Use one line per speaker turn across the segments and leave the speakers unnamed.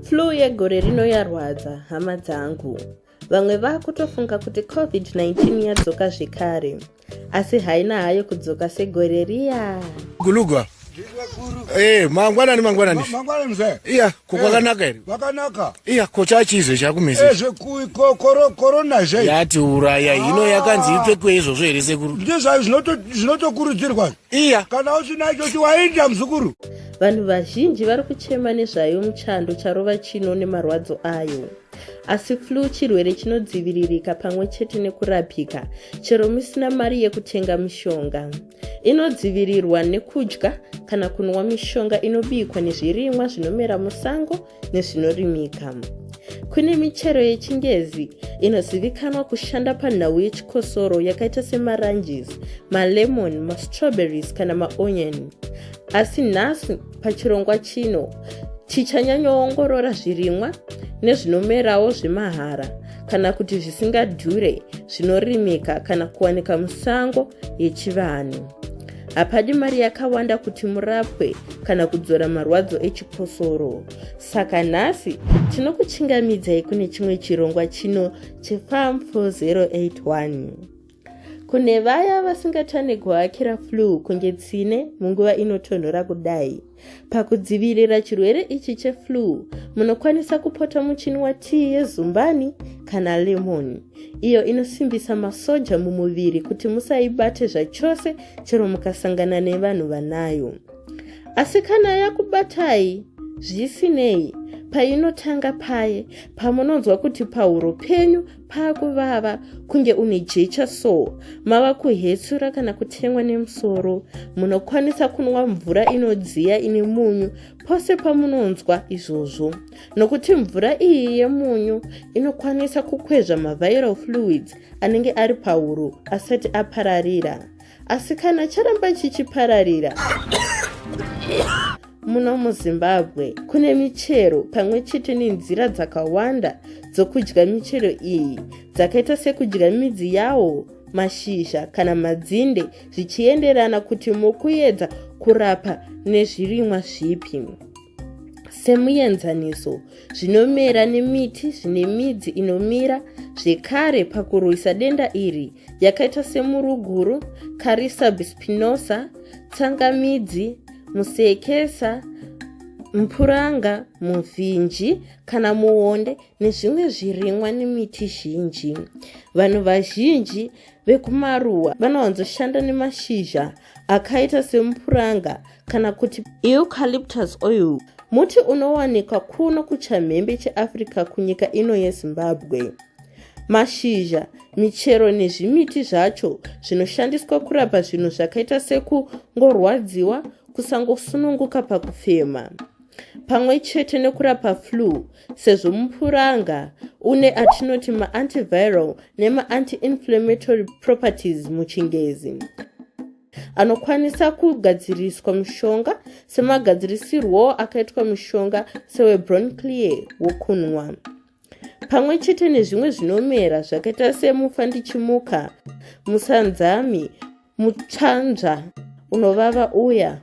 Flu yegore rino yarwadza hama dzangu. Vamwe vakutofunga kuti COVID-19 yadzoka zvekare asi haina hayo kudzoka segore riya. Gulugwa.
Eh, mangwanani mangwanani. Mangwanani
mzee. Iya, kokwakanaka
eh, here? Kwakanaka. Iya,
kocha chizo
chakumisa. Eh, zveku kokoro
corona zve. Yati uraya, hino
ah. yakanzi ipfekwe izvozvo here sekuru? Ndizvo zvinoto
zvinotokurudzirwa. iya kana
usinacho
chiwainda muzukuru vanhu vazhinji
vari kuchema nezvayo muchando charova chino nemarwadzo ayo asi flu chirwere chinodziviririka pamwe chete nekurapika chero musina mari yekutenga mishonga inodzivirirwa nekudya kana kunwa mishonga inobikwa nezvirimwa zvinomera musango nezvinorimika. Kune michero yechingezi inozivikanwa kushanda panhau yechikosoro yakaita semaranges, malemon, mastrawberries kana maonion. Asi nhasi pachirongwa chino chichanyanyoongorora zvirimwa nezvinomerawo zvemahara kana kuti zvisingadhure zvinorimika kana kuwanika musango yechivanhu. hapadi mari yakawanda kuti murapwe kana kudzora marwadzo echikosoro saka nhasi tinokuchingamidzai kune chimwe chirongwa chino chefam 4081 kune vaya vasingatane kuhakira flu kunge tsine munguva inotonhora kudai Pakudzivirira chirwere ichi cheflu, munokwanisa kupota muchini watii yezumbani kana lemoni, iyo inosimbisa masoja mumuviri kuti musaibate zvachose chero mukasangana nevanhu vanayo. Asi kana yakubatai, zvisinei, painotanga paye, pamunonzwa kuti pahuro penyu paakuvava kunge une jecha so mava kuhetsura kana kutemwa nemusoro munokwanisa kunwa mvura inodziya ine munyu pose pamunonzwa izvozvo nokuti mvura iyi yemunyu inokwanisa kukwezva maviral fluids anenge ari pahuro asati apararira asi kana charamba chichipararira muno muzimbabwe kune michero pamwe chete nenzira dzakawanda dzokudya michero iyi dzakaita sekudya midzi yawo mashizha kana madzinde zvichienderana kuti mukuedza kurapa nezvirimwa zvipi semuenzaniso zvinomera nemiti zvine midzi inomira zvekare pakurwisa denda iri yakaita semuruguru carisabispinosa tsangamidzi musekesa mpuranga muvhinji kana muonde nezvimwe zvirimwa nemiti zhinji vanhu vazhinji vekumaruwa vanowanzoshanda nemashizha akaita semupuranga kana kuti eucalyptus oil muti unowanikwa kuno kuchamhembe cheafrica kunyika ino yezimbabwe mashizha michero nezvimiti zvacho zvinoshandiswa kurapa zvinhu zvakaita sekungorwadziwa kusangosununguka pakufema pamwe chete nekurapa flu sezvo mupuranga une atinoti maantiviral nemaanti-inflammatory properties muchingezi anokwanisa kugadziriswa mushonga semagadzirisirwo akaitwa mushonga sewebronclear wokunwa pamwe chete nezvimwe zvinomera zvakaita semufa ndichimuka musanzami mutsvanzva unovava uya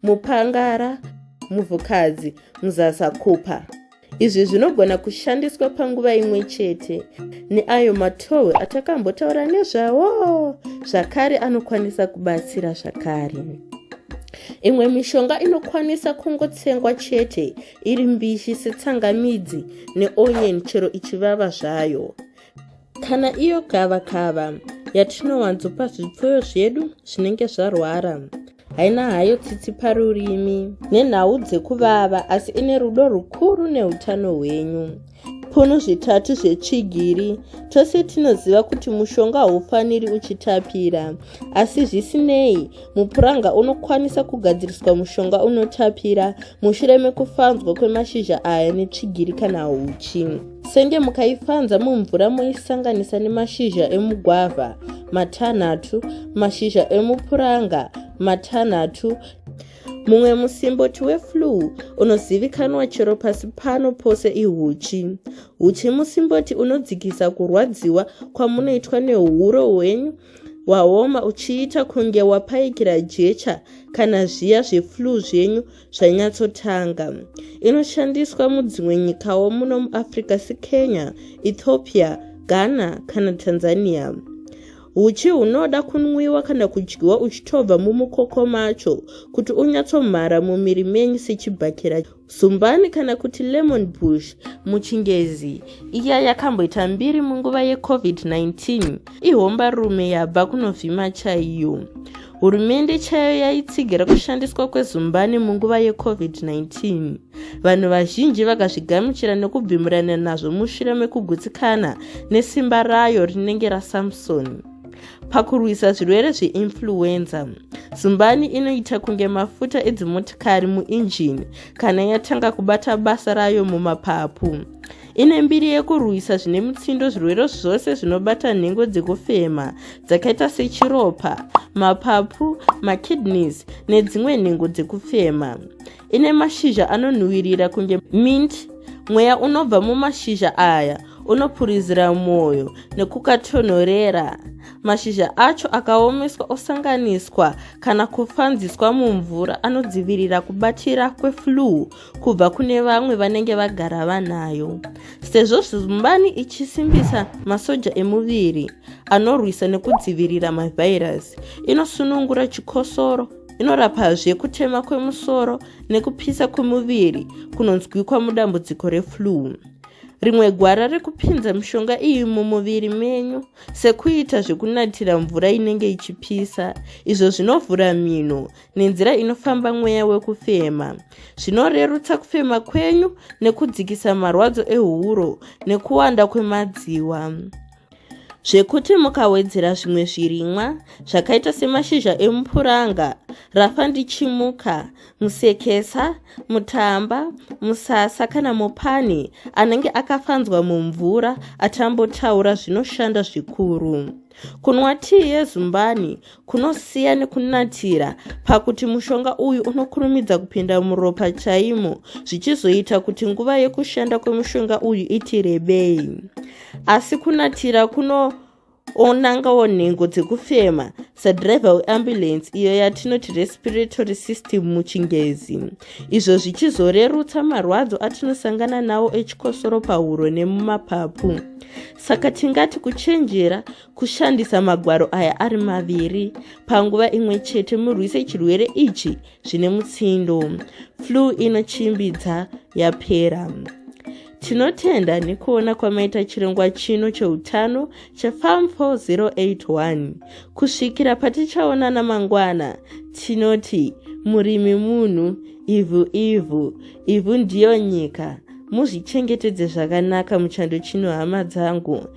mupangara muvhukadzi muzasakupa izvi zvinogona kushandiswa panguva imwe chete neayo matohwe atakambotaura nezvawo zvakare anokwanisa kubatsira zvakare imwe mishonga inokwanisa kungotsengwa chete iri mbishi setsangamidzi neonion chero ichivava zvayo kana iyo gava kava yatinowanzopa zvipfuyo zvedu zvinenge zvarwara haina hayo tsitsi parurimi nenhau dzekuvava asi ine rudo rukuru neutano hwenyu punu zvitatu zvetsvigiri tose tinoziva kuti mushonga haufaniri uchitapira asi zvisinei mupuranga unokwanisa kugadziriswa mushonga unotapira mushure mekufanzwa kwemashizha aya netsvigiri kana huchi senge mukaifanza mumvura moisanganisa nemashizha emugwavha matanhatu mashizha emupuranga matanhatu mumwe musimboti weflue unozivikanwa chero pasi pano pose ihuchi huchi musimboti unodzikisa kurwadziwa kwamunoitwa nehuro hwenyu waoma uchiita kunge wapaikira jecha kana zviya zveflue zvenyu zvanyatsotanga inoshandiswa mudzimwe nyikawo muno muafrica sekenya ethiopia ghana kana tanzania Uchi hunoda kunwiwa kana kudyiwa uchitobva mumukoko macho kuti unyatsomhara mumiri menyu sechibhakera zumbani kana kuti lemon bush muchingezi iya yakamboita mbiri munguva yecovid-19 ihombarume yabva kunovhima chaiyo Hurumende chayo yaitsigira kushandiswa kwezumbani munguva yeCovid-19. Vanhu vazhinji vakazvigamuchira nekubvimurana nazvo mushure mekugutsikana nesimba rayo rinenge raSamson. Pakurwisa zvirwere zveinfluenza, zumbani inoita kunge mafuta edzimotikari muinjini kana yatanga kubata basa rayo mumapapu. ine mbiri yekurwisa zvine mutsindo zvirwere zvose zvinobata nhengo dzekufema dzakaita sechiropa mapapu makidneys nedzimwe nhengo dzekufema ine mashizha anonhuwirira kunge mint mweya unobva mumashizha aya unopurizira mwoyo nekukatonhorera mashizha acho akaomeswa osanganiswa kana kufanziswa mumvura anodzivirira kubatira kweflue kubva kune vamwe vanenge vagara vanayo sezvo zumbani ichisimbisa masoja emuviri anorwisa nekudzivirira mavhairasi inosunungura chikosoro inorapazve kutema kwemusoro nekupisa kwemuviri kunonzwikwa mudambudziko reflue rimwe gwara rekupinza mishonga iyi mumuviri menyu sekuita zvekunatira mvura inenge ichipisa izvo zvinovhura mhino nenzira inofamba mweya wekufema zvinorerutsa kufema kwenyu nekudzikisa marwadzo ehuro nekuwanda kwemadziwa zvekuti mukawedzera zvimwe zvirimwa zvakaita semashizha emupuranga rafa ndichimuka musekesa mutamba musasa kana mupani anenge akafanzwa mumvura atambotaura zvinoshanda zvikuru kunwa tii yezumbani kunosiya nekunatira pakuti mushonga uyu unokurumidza kupinda muropa chaimo zvichizoita kuti nguva yekushanda kwemushonga uyu iti rebei asi kunatira kuno onangawo nhengo dzekufema sadriver weambulensi iyo yatinoti respiratory system muchingezi izvo zvichizorerutsa marwadzo atinosangana nawo echikosoro pahuro nemumapapu saka tingati kuchenjera kushandisa magwaro aya ari maviri panguva imwe chete murwise chirwere ichi zvine mutsindo flu inochimbidza yapera tinotenda nekuona kwamaita chirongwa chino cheutano chefarm 4081 kusvikira patichaonana mangwana tinoti murimi munhu ivhu ivhu ivhu ndiyo nyika muzvichengetedze zvakanaka muchando chino hama dzangu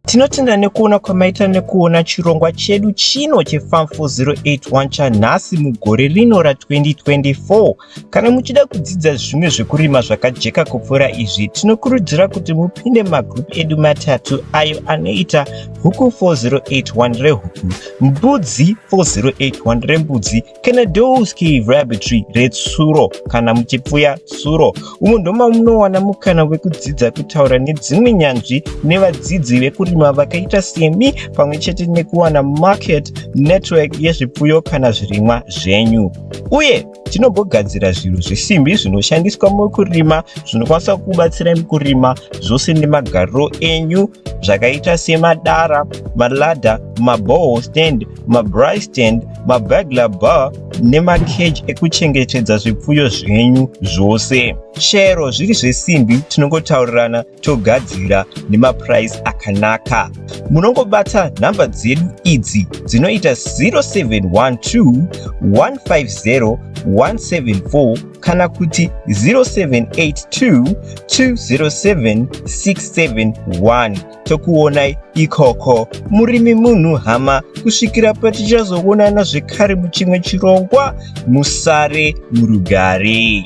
Tinotenda nekuona kwamaita nekuona chirongwa chedu chino cheFarm 4081 chanhasi mugore rino ra2024. Kana muchida kudzidza zvimwe zvekurima zvakajeka kupfuura izvi, tinokurudzira kuti mupinde magroup edu matatu ayo anoita Huku 4081 rehuku, Mbudzi 4081 rembudzi Kenedowski Rabbitry retsuro kana muchipfuya tsuro. Umu ndoma munowana mukana wekudzidza kutaura nedzimwe nyanzvi nevadzidzi vekurima vakaita semi pamwe chete nekuwana market network yezvipfuyo kana zvirimwa zvenyu. Uye tinogogadzira zvinhu zvesimbi zvinoshandiswa mukurima zvinokwanisa kubatsira mukurima zvose nemagariro enyu zvakaita semadara maladha maboho stand mabry stand mabagla bar nemakeji ekuchengetedza zvipfuyo zvenyu zvose shero zviri zvesimbi tinongotaurirana togadzira nemapuraisi akanaka munongobata nhamba dzedu idzi dzinoita 0712 150 174 kana kuti 0782207671 tokuonai ikoko murimi munhu hama kusvikira patichazoonana zvekare muchimwe chirongwa musare murugare